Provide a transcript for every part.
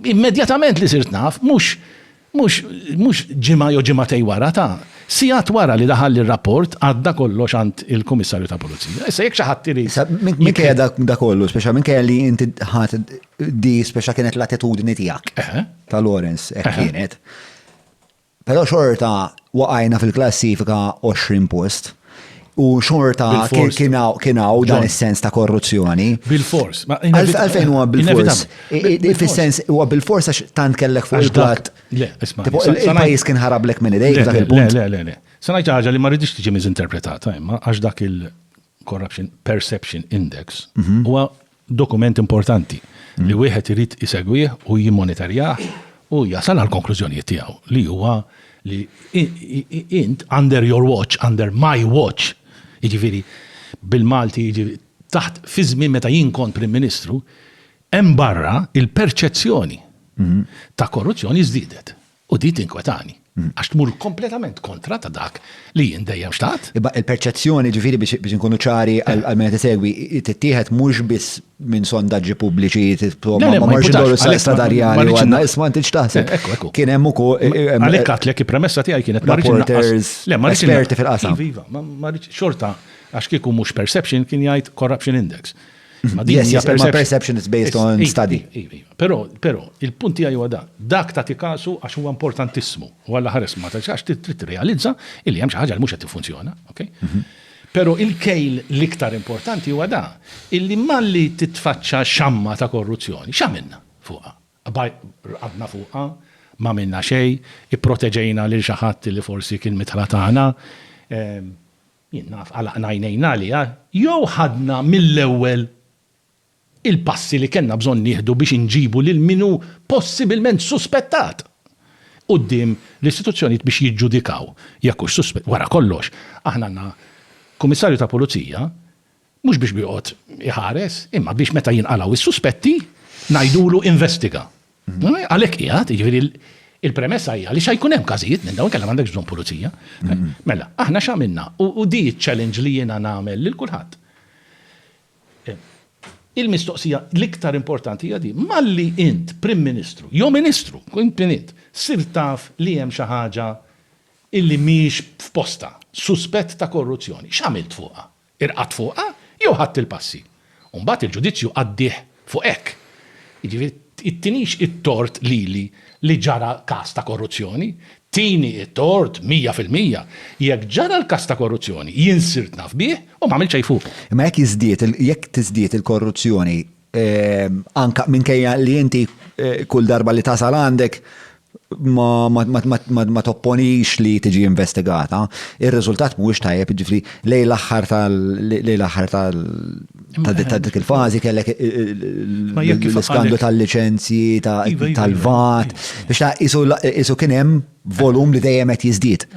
Immedjatament li sirt naf, mhux mhux mhux ġimgħa jew ġimgħatej wara, ta'. Sigħat wara li daħalli r-rapport għadda kollox għand il-Kummissarju ta' Pulizija. Issa jekk xi ħadd irid. Issa minkejja da kollu, speċa minkejja li inti ħadd di speċa kienet l-attitudni tiegħek ta' Lawrence hekk kienet. Però xorta waqajna fil-klassifika 20 post. U xorta kienaw dan is-sens ta' korruzzjoni. Bil-fors. Għalfejn huwa bil-fors. Fis-sens huwa bil-fors għax tant kellek fuq il-plat. Le, isma'. Il-pajjiż kien ħarablek minn idejk dak il-punt. Le, le, le. Se ngħid ħaġa li ma rridx tiġi miżinterpretata imma għax dak il-Corruption Perception Index mhm. huwa dokument importanti li wieħed irid isegwih u jimmonitorjah u jasal għal konklużjonijiet tiegħu li huwa li int under your watch, under my watch, jiġifieri bil-Malti jiġifieri taħt fi żmien meta jien kont Prim Ministru, hemm barra il-perċezzjoni mhm. ta' korruzzjoni żdiedet. U di tinkwetani, għax tmur kompletament kontra ta' dak li jien dejjem xtaqt. Imma il-perċezzjoni, ġifieri biex inkunu ċari għal min qed isegwi, tittieħed mhux biss minn sondaġġi pubbliċi, insomma, ma morrx induru s-sens stadarjali u għadna, isma' inti x'taħseb. Kien hemm ukoll. Għalhekk għedtlek il-premessa tiegħi kienet ma rridx innaqqas. Le, ma rridx innaqqas. Esperti fil-qasam. Iva, iva, ma rridx, xorta, għax kieku mhux perception kien jgħid corruption index. Ma din hija perception is based on study. Però, però, il-punt tiegħi huwa dak. Dak ta' tikasu għax huwa importantissimu. U għalla ħares ma ta' għax trid tirrealizza li hemm xi ħaġa li mhux qed tiffunzjona, ok? Mhm. Però il-kejl l-iktar importanti huwa da, illi malli titfaċċa xamma ta' korruzzjoni, x'għamilna fuqha? Rqadna fuqha, ma minna xejn, ipproteġejna lil xi ħadd li forsi kien mitħla tagħna, ehm, Jien naf għalaqna għajnejna għaliha jew ħadna mill-ewwel il-passi li kellna bżonn nieħdu biex inġibu lil min hu possibilment suspettat quddiem l-istituzzjonijiet biex jiġġudikaw jekk hux suspett. Wara kollox, aħna għandna Kummissarju ta' Pulizija Mhux biex joqgħod iħares, imma biex meta jinqalgħu s-suspetti, ngħidulu investiga. Għalhekk qiegħed, jiġifieri il-premessa hija li xa jkun hemm każijiet minn dawn kellha m'għandekx bżonn pulizija. Mm-hmm. Mela, aħna x'għamilna u di ċ-challenge li jiena nagħmel lil kulħadd. Eh, il-mistoqsija l-iktar importanti hija di, malli int Prim Ministru, jew Ministru, int int, sir taf li hemm xi ħaġa illi mhix f'posta, suspett ta' korruzzjoni, x'għamilt fuqha? Irqadt fuqha jew ħadt il-passi. U mbagħad il-ġudizzju qaddih fuq hekk. Jiġifieri, ittinix it-tort lili li ġara każ ta' korruzzjoni? Tini t-tort mija fil-mija. Jekk ġara l-każ ta' korruzzjoni, jien sirt naf bih u m'għamilt xejn fuqu. Imma jekk jiżdied, jekk tiżdied il-korruzzjoni, Anka minkejja li inti kull darba li tasal għandek ma topponix li tiġi investigata, ir-riżultat mhuwiex tajjeb, ġifri lejn l-aħħar tal lejn l-aħħar tal ta' dik il-fażi kellek l-iskandlu tal-liċenzji tal-vat biex ta' qisu kien hemm volum li dejjem qed jiżdied.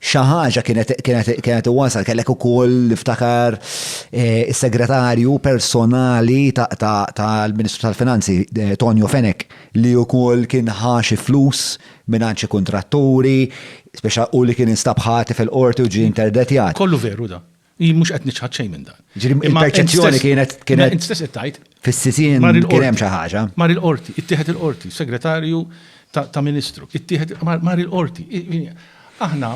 xi ħaġa kienet kienet kienet iwasal kellek ukoll niftakar eh, is-segretarju personali tal-Ministru tal-Finanzi eh, Tonio Fenek li wkoll kien ħaxi flus minn xi kuntratturi, speċa u li kien instabħati fil-qorti u ġi interdetjat. Kollu veru da. Hi mhux qed niċħad xejn minn dan. Ġifieri il-perċezzjoni kienet kienet. Int stess qed tgħid. Fis-sisin kien hemm xi ħaġa. Mar il-qorti, ittieħed il-qorti, segretarju ta' Ministru, ittieħed mar il-qorti. Aħna.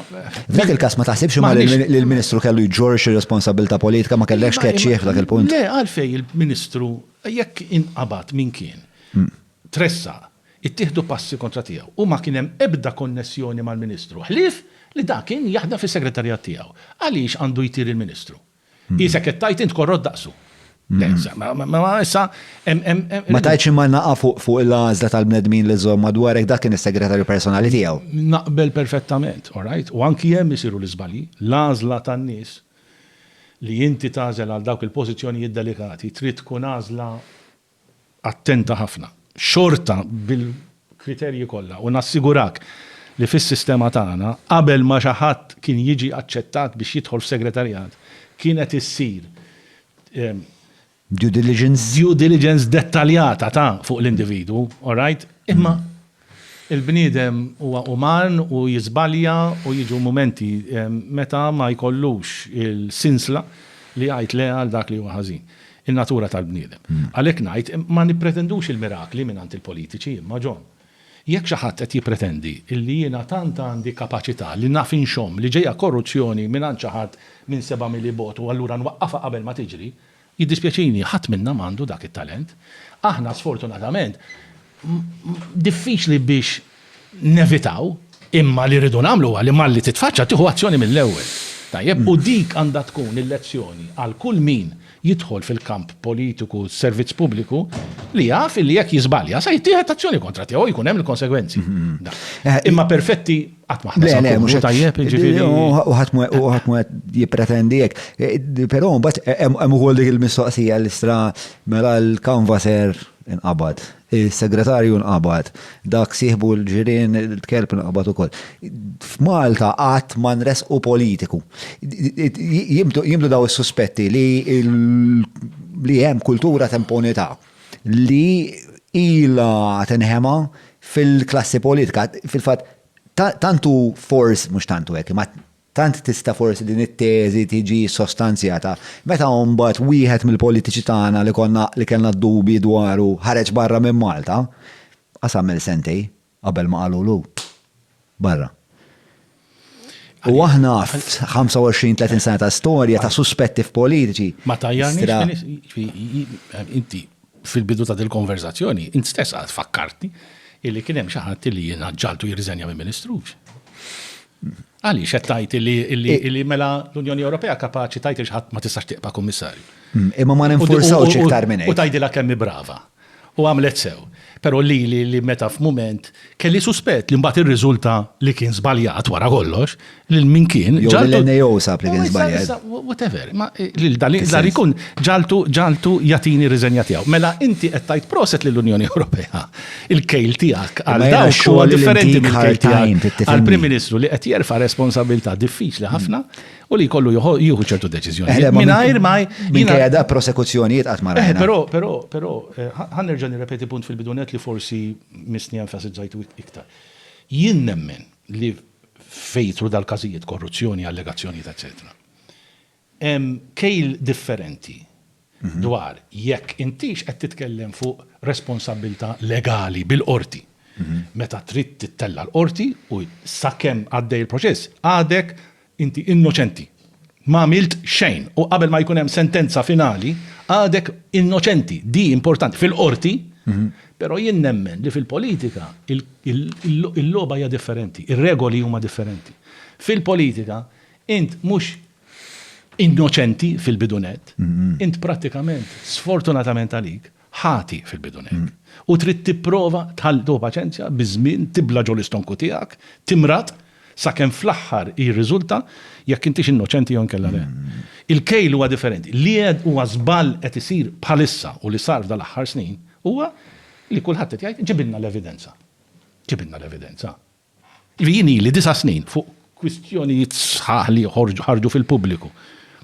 F'dak il-każ ma taħsibx ma li l-Ministru kellu jġorx ir-responsabilità politika ma kellekx keċċieħ f'dak il-punt. Le għalfej il-Ministru jekk inqabad minn kien hmm. tressa ittieħdu passi kontra tiegħu u ma kien hemm ebda konnessjoni mal-Ministru, ħlief li dak kien jaħdem fis-Segretarjat tiegħu. Għaliex għandu jtir il-Ministru? Qisek qed tgħid int korrott daqsu. Le, ma issa hemm. Ma tgħidx imma naqa' fuq il-għażla tal-bnedmin li żżomm madwarek, dak kien is-Segretarju personali tiegħu. Naqbel perfettament, orajt, u anki hemm isiru l-iżbalji. L-għażla tan-nies li inti tagħżel għal dawk il-pożizzjonijiet delikati trid tkun għażla attenta ħafna, xorta bil-kriterji kollha u nassigurak li fis-sistema tagħna, qabel ma xi ħadd kien jiġi aċċettat biex jidħol f'segretarjat, kienet issir Due diligence? Due diligence dettaljata ta' fuq l-individwu, all right? Imma Il-bniedem huwa uman u jiżbalja u jiġu mumenti meta ma jkollux il-sinsla li jgħid le għal dak li huwa ħażin. In-natura tal-bniedem. Għalhekk ngħid, ma nippretendux il-mirakli mingħand il-politiċi imma, John, jekk xi ħadd qed jippretendi li jiena tant għandi kapaċità li naf inxomm li ġejja korruzzjoni mingħand xi ħadd minn seba' mili bogħod u allura nwaqqafha qabel ma tiġri, Jiddispjaċini, ħadd minna m'għandu dak it-talent. Aħna sfortunatament diffiċli biex nevitaw, imma li rridu nagħmlu huwa li malli titfaċċa tieħu azzjoni mill-ewwel. Tajjeb? U dik għandha tkun il-lezzjoni għal kull min jidħol fil-kamp politiku, servizz pubbliku, li jaf illi jekk jiżbalja se jittieħed azzjoni kontra tiegħu u jkun hemm il-konsegwenzi. Imma perfetti? Qatt ma ħna Le, mhux tajjeb, jiġifieri. U ħadd mu qed jippretendi hekk. E, però mbagħad e, hemm ukoll dik il-mistoqsija li stra mela l-kanvaser inqabad, is-segretarju inqabad, dak sieħbu l-ġirien il-kelb inqabad ukoll. F'Malta qatt ma nresqu politiku. Jimdu daw is-suspetti li li hemm kultura temponità. li ilha tinħema fil-klassi politika. Fil-fatt, tant hu forsi, mhux tant hu hekk, imma tant tista' forsi din it-teżi tiġi sostanzjata. Meta mbagħad wieħed mill-politiċi tagħna li konna li kellna d-dubi dwaru ħareġ barra minn Malta, qas għamel sentej, Qabel ma qalulu, barra. U aħna 25-30 sena ta' storja ta' suspetti f'politiċi. Ma ta' tajjarni, inti fil-bidu ta' dil-konverzazzjoni, inti stess għad fakkarti illi kienem xaħat illi jena ġaltu jirriżenja minn ministru. Għali, xettajt illi mela l-Unjoni Ewropea kapaċi tajt il-ħat ma tistax tiqpa kummissarju. Mm, imma ma ninfursaw ċiktar minn. U tajdila kemmi brava. U għamlet sew. Però lili li meta f'mument kelli suspett li mbagħad irriżulta li kien żbaljat wara kollox, lil min kien ġagħaltu. Jew l-NAO sab li kien żbaljat. Whatever, imma lil dan ikun ġagħaltu ġagħaltu jagħtini r-riżenja tiegħu. Mela inti qed tgħid proset lill-Unjoni Ewropea. Il-kejl tiegħek għal dawk huwa differenti mill-kejl tiegħi għall-Prim Ministru li qed jerfa' responsabbiltà diffiċli ħafna u li jkollu jieħu ċertu deċiżjoni. Mingħajr ma jinkejja da prosekuzzjonijiet qatt ma rajna. Però, però, però, eh, ħan nerġa' nirrepeti punt fil-bidunet li forsi misni enfasizzajtu iktar. Jien nemmen li fejtru dal-każijiet korruzzjoni, allegazzjonijiet, eċetera. Kejl differenti dwar jekk intix qed titkellem fuq responsabbiltà legali bil-qorti. Meta trid tittella' l-qorti u sakemm għaddej il-proċess għadek inti innoċenti. M'għamilt xejn u qabel ma jkun hemm sentenza finali għadek innoċenti. Di importanti fil-qorti però jien nemmen li fil-politika il-logħba hija differenti, ir-regoli huma differenti. Fil-politika int mhux innoċenti fil-bidu nett, int prattikament, sfortunatament għalik, ħati fil-bidu nett. U trid tipprova tħall, tieħu paċenzja, biż-żmien tibla' ġo l-istonku tiegħek, timrad, sakemm fl-aħħar jirriżulta jekk intix innoċenti jew inkella le. Il-kejl huwa differenti. Li qed huwa żball qed isir bħalissa u li sar f'dan l-aħħar snin huwa li kulħadd qed jgħid ġibilna l-evidenza. Ġibilna l-evidenza. Li jien ili disa' snin fuq kwistjonijiet sħaħ li ħarġu fil-pubbliku.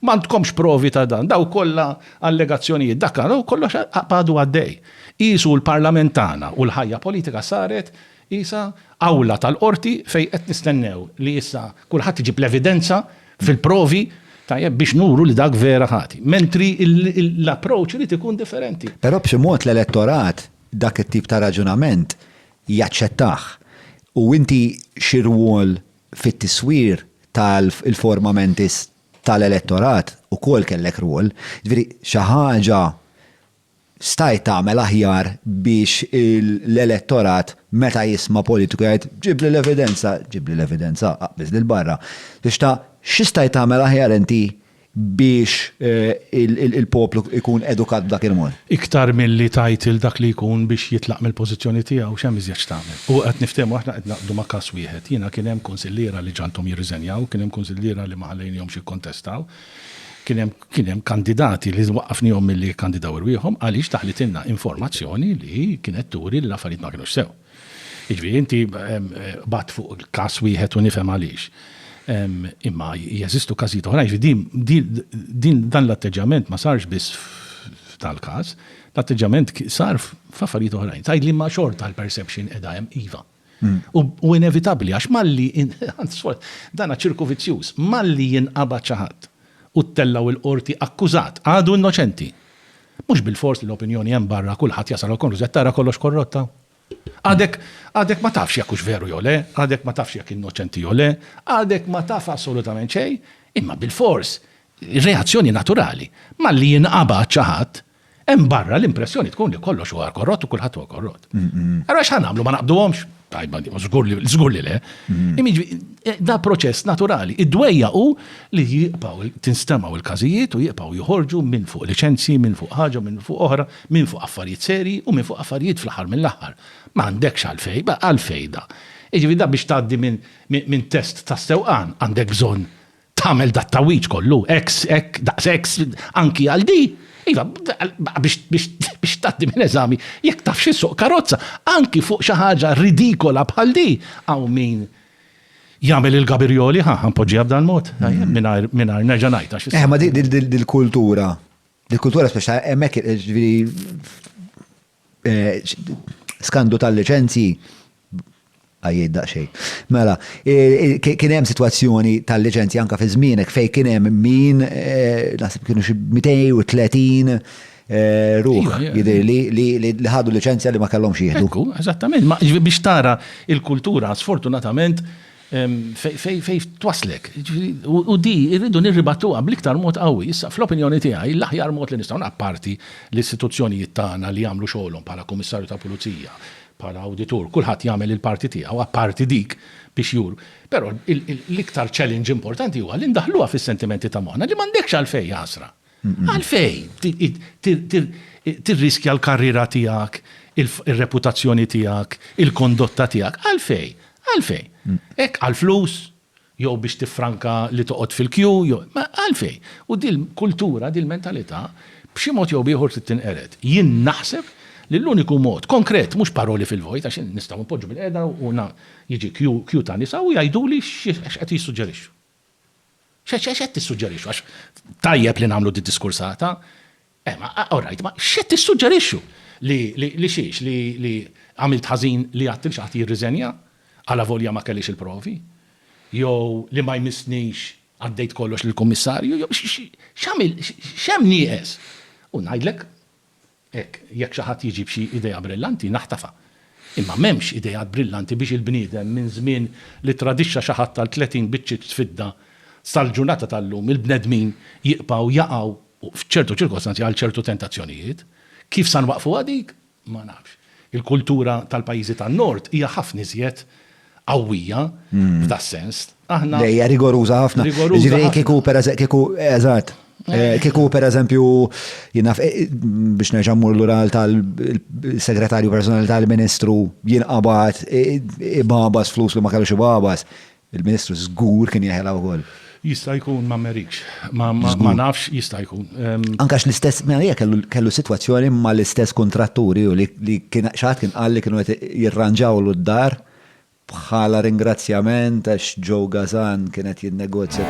M'għandkomx provi ta' dan, dawk kollha allegazzjonijiet dak u kollox għadu għaddej. Qisu l-Parlament tagħna u l-ħajja politika saret qisha awla tal-Qorti fejn qed nistennew li issa kulħadd iġib l-evidenza fil-provi, tajjeb, biex nuru li dak vera ħati. Mentri l-approach irid ikun differenti. Però b'xi mod l-elettorat dak it-tip ta' raġunament jaċċettah. U inti xi rwol fit-tiswir ta' l-forma mentis ta' l-elettorat ukoll kellek rwol. Jiġifieri xi ħaġa stajt tagħmel aħjar biex l-elettorat meta jisma' politiku jgħid ġibli l-evidenza, ġibli l-evidenza, aqbiżli 'l barra. X'stajt tagħmel aħjar inti? biex il-poplu jkun edukat b'dak il-mod. Iktar milli tgħid lil dak li jkun biex jitlaq mill-pożizzjoni tiegħu, x'hemm iżjed x'tagħmel? U qed niftehmu aħna qed naqbdu ma' każ wieħed. Jiena kien hemm kunsilliera li ġagħalthom jirriżenjaw, kien hemm kunsilliera li ma ħallejnihomx jikkontestaw, kien hemm kien hemm kandidati li waqqafnihom milli jikkandidaw irwieħhom għaliex daħlitilna informazzjoni li kienet turi li l-affarijiet ma kinux sew. Jiġifieri inti qbadt fuq każ wieħed u nifhem għaliex. Imma jeżistu każijiet oħrajn, jiġifieri dan l-atteġġjament ma sarx biss f'dal-każ, l-atteġġjament sar f'affarijiet oħrajn. Tgħidli imma xorta l-perception qiegħda hemm, iva. U inevitabbli għax malli, dan hu ċirku vizzjuż, malli jinqabad xi ħadd u ttellgħu l-Qorti akkużat, għadu innoċenti. Mhux bilfors li l-opinjoni hemm barra kulħadd jasal għall-konklużjoni tara kollox korrotta. Għadek għadek ma tafx jekk hux veru jew le, għadek ma tafx jekk innoċenti jew le, għadek ma taf assolutament xejn, imma bilfors, reazzjoni naturali, malli jinqabad xi ħadd, hemm barra l-impressjoni tkun li kollox huwa korrott u kulħadd huwa korrott. Allura x'ħa nagħmlu, ma naqbduhomx? tajba di, żgur li żgur li le. Immiġi, eh, da proċess naturali. Id-dwejja u li jibqgħu tinstemaw il-każijiet u jibqgħu joħorġu minn fuq liċenzji, minn fuq ħaġa, minn fuq oħra, minn fuq affarijiet seri u minn fuq affarijiet fl-aħħar mill-aħħar. Ma għandekx għalfej, ba għalfej da. Iġifi da biex tgħaddi minn test ta' sewqan għandek bżonn tagħmel dat tawiċ kollu, ex, ek, daqs ex, anki għal di, Iva, biex taddi minn eżami, jekk taf xi suq karozza, anki fuq xi ħaġa ridikola bħal di, għaw min jagħmel il-gabirjoli, ħa, ħanpoġġiha b'dan mod, mm. mingħajr nerġa' ngħid għax. Eh, ma dil-kultura, dil-kultura speċa hemmhekk ġifieri Skandlu tal-liċenzji għajjejt daqsxejn. Mela, kien hemm sitwazzjoni tal-liċenzji anke fi żmienek fejn kien hemm min naħseb kienu xi 230 ruħ jidher li ħadu liċenzja li ma kellhomx jieħdu. Eżattament, biex tara l-kultura sfortunatament Fejn twasslek. U di rridu nirribattuha bl-iktar mod qawwi. Issa, fl-opinjoni tiegħi, l-aħjar mod li nistgħu, apparti l-istituzzjonijiet tagħna li jagħmlu xogħolhom bħala Kummissarju tal-Pulizija, bħala Awditur, kulħadd jagħmel il-parti tiegħu, apparti dik biex juru. Però l-iktar challenge importanti huwa li ndaħħluha fis-sentimenti ta' moħħna li m'għandekx għalfejn għasra. Għalfejn tirriskja l-karriera tiegħek, ir-reputazzjoni tiegħek, il-kondotta tiegħek? Għalfejn? Għalfejn? Hekk għall-flus? Jew biex tiffranka li toqgħod fil-kju? Għalfejn? U dil-kultura, dil-mentalità, b'xi mod jew b'ieħor trid tinqered. Jien naħseb li l-uniku mod, konkret, mhux paroli fil-vojt, għax nistgħu npoġġu bilqiegħda u jiġi kju ta' nisa u jgħiduli x'qed jissuġġerixxu. X'għex x'għex qed tissuġġerixxu? Għax tajjeb li nagħmlu d-diskursata. Eh, ma all right, ma x'qed tissuġġerixxu? Li li li xiex li li għamilt ħażin li għadt lil xi ħadd jirriżenja għala volja ma kellix il-provi? Jew li ma jmissnix għaddejt kollox lill-Kummissarju? Jew x'għamilt x'hemm nieqes? U ngħidlek Hekk, jekk xi ħadd jiġi b'xi idea brillanti, naħtafha. Imma m'hemmx ideat brillanti biex il-bniedem minn żmien li ttradixxa xi ħadd għal tletin biċċiet fidda sal-ġurnata tal-lum, il-bnedmin jiqbgħu jaqgħu, f'ċertu ċirkostanzi, għal ċertu tentazzjonijiet. Kif sa nwaqqfuha dik? Ma nafx. Il-kultura tal-pajjiżi tan-Nord hija ħafna iżjed qawwija f'da sens. Aħna. Lejja rigoruża ħafna. Ġifieri kieku per kieku eżatt. Eh, kieku per eżempju jinaf eh, biex nerġa' mmur lura tal-segretarju personali tal-Ministru jinqabad eh, ibabas flus li ma kellux ibabas. Il-Ministru żgur kien jeħela wkoll. Jista' jkun ma merikx. Ma ma nafx jista' jkun. Anke għax l-istess Merija kellu kellu sitwazzjoni mal-istess kuntratturi u li li kien xi ħadd kien qal li kienu qed jirranġawlu d-dar bħala ringrazzjament għax Joe Gazan kien qed jinnegozja.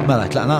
Mela tlaqna?